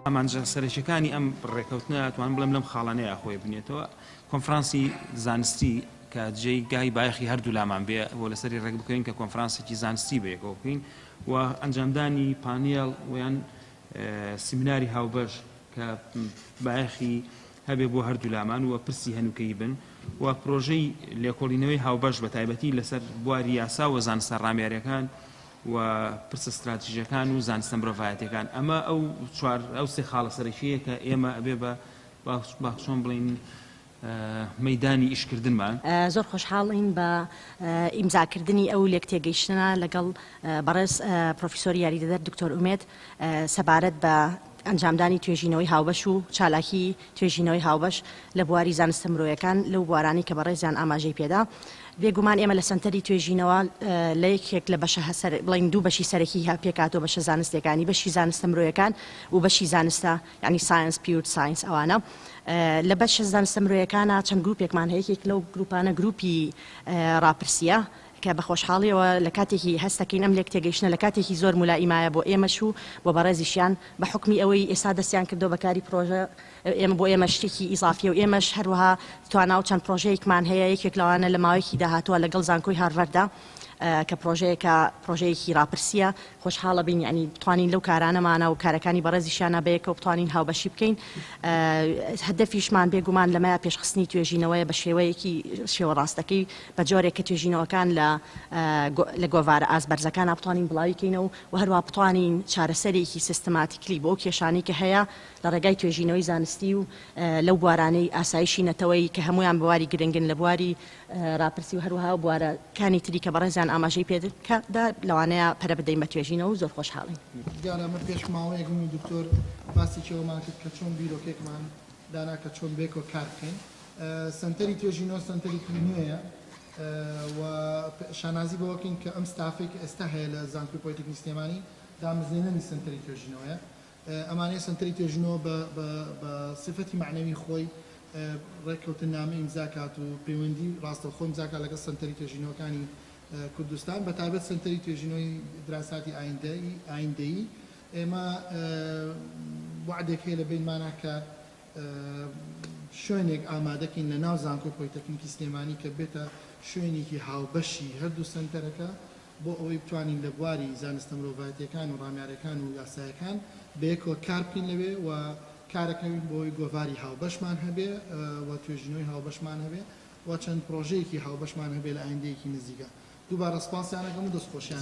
ئامانجە سەرەکیەکانی ئەم ڕێکەوتنە توان بڵێم لەم خاڵانەیە خۆی بنێتەوە کۆنفرانسی زانستی کە جێی گای بایخی هەردوو لامان بێ بۆ لەسەری ڕێک بکەین کە کۆنفرانسێکی زانستی بەیەکەوە بکەین و ئەنجامدانی پانیل ویان سیمیناری هاوبەش کە بایخی هەبێ بۆ هەردوولامان و پرسی هەنووکەیی بن و پرۆژەی لێکۆڵینەوەی هاوبەش بە تایبەتی لەسەر بواری یاسا و زانستە ڕامیاریەکان و پرسە ستراتیژەکان و زانستە مرۆڤایەتەکان ئەمە ئەو چوار ئەو سێ خاڵە سەرەکیەیە کە ئێمە ئەبێ بە باخچۆن بڵین مەدانی ئیشکردنمان. زۆر خۆشحاڵین بە ئیمزاکردنی ئەو لێکتێگەیشتنە لەگەڵ بەڕێز پرۆفیسۆری یاریدەدەر دکتۆر ئومێد سەبارەت بە ئەنجامدانی توێژینەوەی هاوبەش و چالاکیی توێژینەوەی هاوبەش لە بواری زانستە مرۆیەکان لەو بوارانەی کە بەڕێزیان ئاماژەی پێدا. بێگومان ئێمە لە سەنتەری توێژینەوە لە یەکێک لە بەشە بڵێین دوو بەشی سەرەکیی پێکهاتووە، بەشە زانستییەکانی، بەشی زانستە مرۆیەکان و بەشی زانستە یانی ساینس، پیور ساینس ئەوانە. لە بەشە زانستە مرۆیەکانە چەند گرووپێکمان هەیە، یەکێک لەو گرووپانە گرووپی ڕاپرسییە، کە بە خۆشحاڵیەوە لە کاتێکی هەست دەکەین ئەم لێکتێگەیشتنە لە کاتێکی زۆر مولائیم مایە بۆ ئێمەش و بۆ بەڕێزیشیان بە حوکمی ئەوەی ئێستا دەستیان کردوە بە کاری پرۆژە ئێمە بۆ ئێمە شتێکی ئیزافیە و ئێمەش هەروەها توانا و چەند پرۆژەیەکمان هەیە یەکێک لەوانە لە ماوەیەکی داهاتوە لە گەڵ زانکۆی هارڤەردا کە پرۆژەیەکە پرۆژەیەکی ڕاپرسیە خۆشحاڵە بین یانی بتوانین لەو کارانەمانە و کارەکانی بەڕێزیشیانە بەیەکەوە بتوانین هاوبەشی بکەین هەدەفیشمان بێگومان لەمەیە پێشخستنی توێژینەوەیە بە شێوەیەکی شێوە ڕاستەکەی بە جۆرێک کە توێژینەوەکان لە لە گۆڤارە ئاست بەرزەکانا بتوانین بڵاوی کەینەوە و هەروەها بتوانین چارەسەرێکی سیستماتیکلی بۆ ئەو کێشانەی کە هەیە لە ڕێگای توێژینەوەی زانستی و لەو بوارانەی ئاسایشی نەتەوەیی کە هەموویان بواری گرنگن لە بواری ڕاپرسی و هەروەها و بوارە کانی تری کە بەڕێزیان ئاماژەی پێ کە دا لەوانەیە پەرە بدەین بە توێژینەوە و زۆر خۆشحاڵین. دیارە ئەمە پێش ماوەیەک من و دکتۆر باسێکی ئەوەمان کرد کە چۆن بیرۆکێکمان دانا کە چۆن بێکۆ کار بکەین. سەنتەری توێژینەوە سەنتەرێکی نوێیە و شانازی بەوە بکەین کە ئەم ستافەی کە ئێستا هەیە لە زانکۆی پۆلیتەکنی سلێمانی دامەزرێنەری سەنتەری توێژینەوەیە ئەمانەیە سەنتەری توێژینەوە بە سیفەتی مەعنەوی خۆی ڕێککەوتننامە ئیمزا کات و پەیوەندی ڕاستەوخۆ ئیمزا کات لەگەڵ سەنتەری توێژینەوەکانی کوردستان بە تایبەت سەنتەری توێژینەوەی دراساتی ئایندەیی ئایندەیی ئێمە وعدێک هەیە لە بەینمانە کە شوێنێک ئامادەکەین لە ناو زانکۆی پۆلیتەکنیکی سلێمانی کە بێتە شوێنێکی هاوبەشی هەردوو سەنتەرەکە بۆ ئەوەی بتوانین لە بواری زانستە مرۆڤایەتیەکان و ڕامیارەکان و یاسایەکان بەیەکەوە کار بکەین لەوێ و کارەکەوین بۆی گۆڤاری هاوبەشمان هەبێ و توێژینەوەی هاوبەشمان هەبێ و چەند پرۆژەیەکی هاوبەشمان هەبێ لە ئایندەیەکی نزیکە دووبارە سپاسیانەکەم و دەستخۆشیان